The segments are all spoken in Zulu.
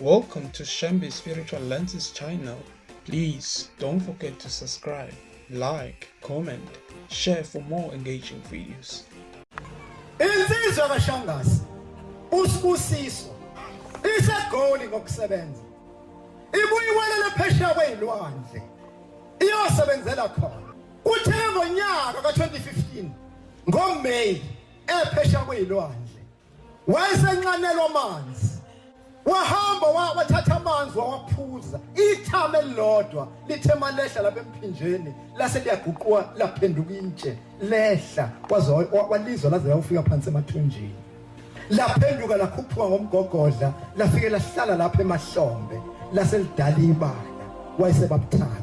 Welcome to Shambi Spiritual Lenses channel. Please don't forget to subscribe, like, comment, share for more engaging videos. Insizwa kaShangasi usibusiso isegoli ngokusebenza ibuyiwelela phesheya kweyilwandle iyosebenzela khona kuthe ngonyaka ka-2015 ngoMay ephesheya kweyilwandle wayesenxanelwa amanzi wahamba wathatha amanzi wawaphuza ithama elilodwa lithe malehla lapha emphinjeni lase liyaguquka laphenduka intshe lehla kwaze walizwa laze layofika phansi emathunjini laphenduka lakhuphuka ngomgogodla lafike lahlala lapha emahlombe lase lidala ibala wayesebabuthatha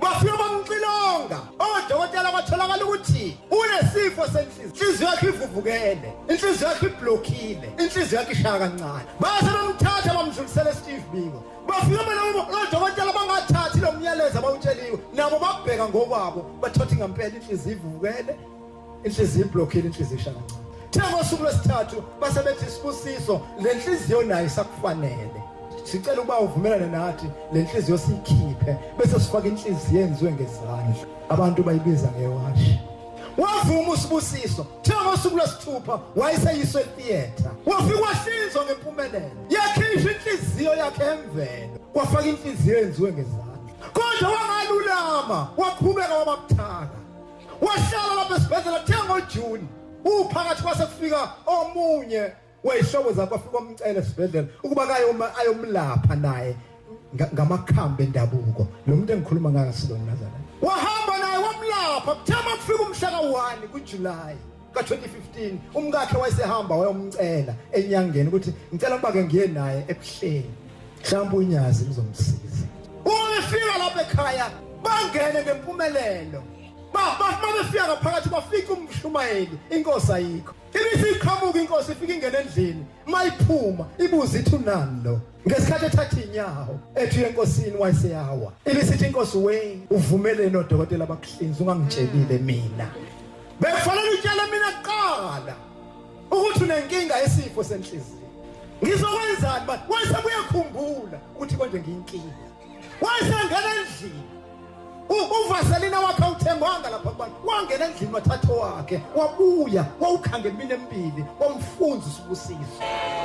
Bafike bamxilonga odokotela kwatholakala ukuthi unesifo senhliziyo. Inhliziyo yakhe ivuvukele, inhliziyo yakhe iblockile, inhliziyo yakhe ishaya kancane. Base bamthatha bamdlulisela eSteve Biko. Bafike bona odokotela bangathathi lo myalezo abawutsheliwe, nabo babheka ngokwabo bathothi ngempela inhliziyo ivuvukele inhliziyo iblockile inhliziyo isha kancane the ngosuku lwesithathu base bethi isibusiso le nhliziyo nayo isakufanele sicela ukuba uvumelane nathi le nhliziyo siyikhiphe bese sifaka inhliziyo enziwe ngezandla abantu bayibiza ngewashi wavuma usibusiso the ngosuku lwesithupha wayeseyiswe theatre wafika wahlinzwa ngempumelelo yakhishwa inhliziyo yakhe emvelo kwafaka inhliziyo enziwe ngezandla kodwa wangalulama waqhubeka wabamthaka wahlala lapha esibhedlela the ngojuni uphakathi kwase kufika omunye weyihlobo zakho afika omcele esibhedlela ukuba kayoma ayomlapha naye ngamakhambi endabuko lo muntu engikhuluma ngayo silona nazana wahamba naye wamlapha kuthema kufika umhla ka-1 kujuly ka-2015 umkakhe wayesehamba wayomcela enyangeni ukuthi ngicela ukuba ke ngiye naye ebuhleni mhlawumbe unyazi lizomsiza uma befika lapha ekhaya bangene ngempumelelo bafuma befika ngaphakathi bafika umshumayeli inkosi ayikho ibisi iqhamuka inkosi ifika ingene endlini mayiphuma ibuze ithi unani lo ngesikhathi ethatha inyawo ethi enkosini wayeseyawa ibisithi inkosi we uvumeleni odokotela bakuhlinza ungangitshelile mina Bekufanele utshele mina kuqala ukuthi unenkinga yesifo senhliziyo. Ngizokwenzani manje? Wase kuyakhumbula ukuthi konje ngiyinkinga. Wase ngena endlini. Uvaselina wakhe uthengwanga lapha kubantu. Wangena endlini wathatha wakhe, wabuya, wawukhanga emini emibili, wamfunza usibusiso.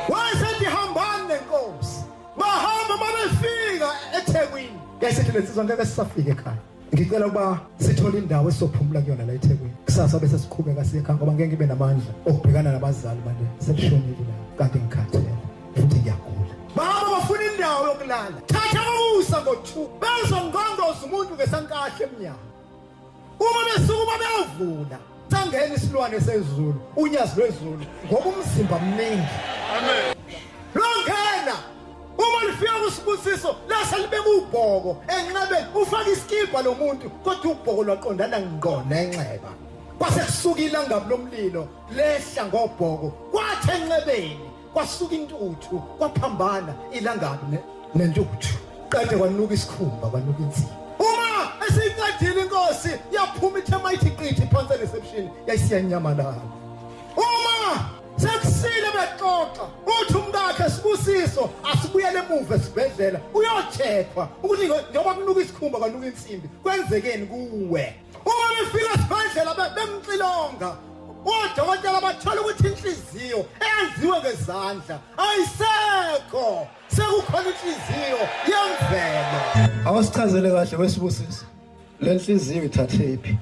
Wase ndihambani nenkosi. Bahamba mabefika eThekwini. Yayisithi lensizwa ngeke sisafike ekhaya. ngicela ukuba sithole indawo esizophumula kuyona la ethekwini kusasa bese siqhubeka siye ekhaya ngoba ngeke ngibe namandla okubhekana nabazali manje selishonile la kanti ngikhathele futhi ngiyagula baba bafuna indawo yokulala thatha ukusa ngo-two bezongqondoza umuntu ngesankahle emnyango uma besuke uma beyovula Thangeni isilwane sezulu, unyazi lwezulu ngoba umzimba mningi. Amen. Longena uma lifika kusibusiso lase libe kubhoko enxebeni ufaka isikibha lo muntu kodwa ubhoko lwaqondana ngqo nenxeba. Kwase kusuka ilangabi lomlilo lehla ngobhoko kwathi enxebeni kwasuka intuthu kwaphambana ilangabi ne- nentuthu qede kwanuka isikhumba kwanuka inzima uma esiyiqedile inkosi yaphuma ithe mayithi qithi phansi ereception yayisiyanyamalala uma sekusile bexoxa uthi umkakhe sibusiso asibuyele emuva esibhedlela uyochekhwa ukuthi ngo- njengoba kunuka isikhumba kwanuka insimbi kwenzekeni kuwe uma befika esibhedlela bemxilonga odokotela bathola ukuthi inhliziyo eyenziwe ngezandla ayisekho sekukhona inhliziyo yemvelo awusichazele kahle wesibusisi le nhliziyo ithathephi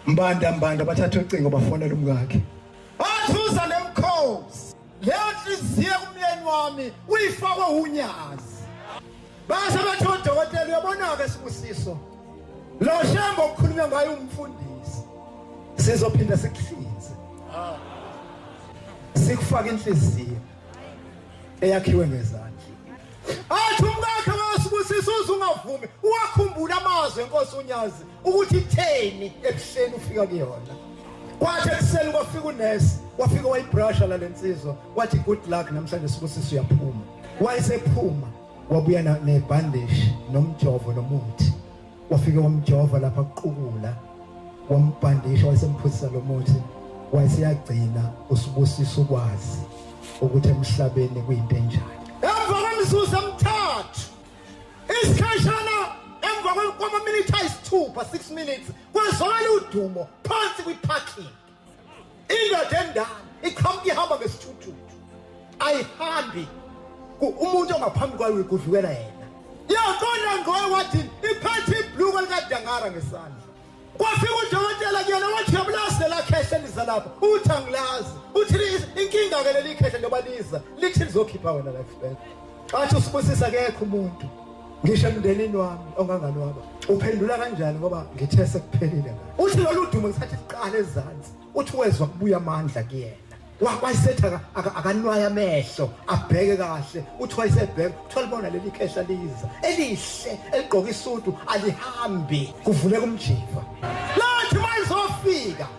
mbanda mbanda bathatha ucingo bafonela umkakhe Leyo nhliziyo kumyeni wami uyifakwe unyazi. Base bathi odokotela uyabona-ke sibusiso. Lo shembo okukhulunywa ngayo umfundisi. Sizophinda sikuhlinze. Sikufaka inhliziyo eyakhiwe ngezandla. athi umkakhe wasibusisa uze ungavumi uwakhumbula amazwi enkosi unyazi ukuthi itheni ebuhleni ufika kuyona kwathi ekuseni kwafika unesi wafika wayibrasha lale nsizwa wathi good luck namhlanje sibusisa uyaphuma wayesephuma wabuya nebhandishi nomjovo nomuthi wafike wamjova lapha kuqukula wambhandisha wayesemphuzisa lo muthi wayeseyagcina usibusisa ukwazi ukuthi emhlabeni kuyinto enjani emva kwemizuzu emithathu isikhashana emva kwamaminitha ayisithupha 6 minutes kwezwakala udumo phansi kwi-parking indoda endala iqhamuka ihamba ngesithuthuthu ayihambi umuntu ongaphambi kwayo kuvikela yena yaqonda ngoye wathi iphethe ibhluko likadangara ngesandla kwafika udokotela kuyena wathi yabulazi lelakhehla liza lapha uthi angilazi uthi inkinga-ke leli khehla njengoba liza lithi lizokhipha wena lifebek Bathi usibusisa akekho umuntu ngisho emndenini wami onganganwaba uphendula kanjani ngoba ngithe sekuphelile ngani uthi lolu dumo ngisathi siqala ezansi uthi wezwa kubuya amandla kuyena wayesethi akanwaye amehlo abheke kahle uthi wayesebheka kuthiwa libona leli khehla liza elihle eligqoke isudu alihambi kuvuleka umjiva lathi mayizofika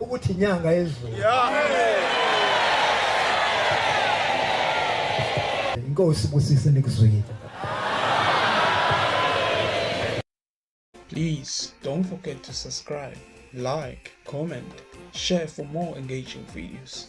ukuthi inyanga yezulu inkosi busise nikuzwile Please don't forget to subscribe, like, comment, share for more engaging videos.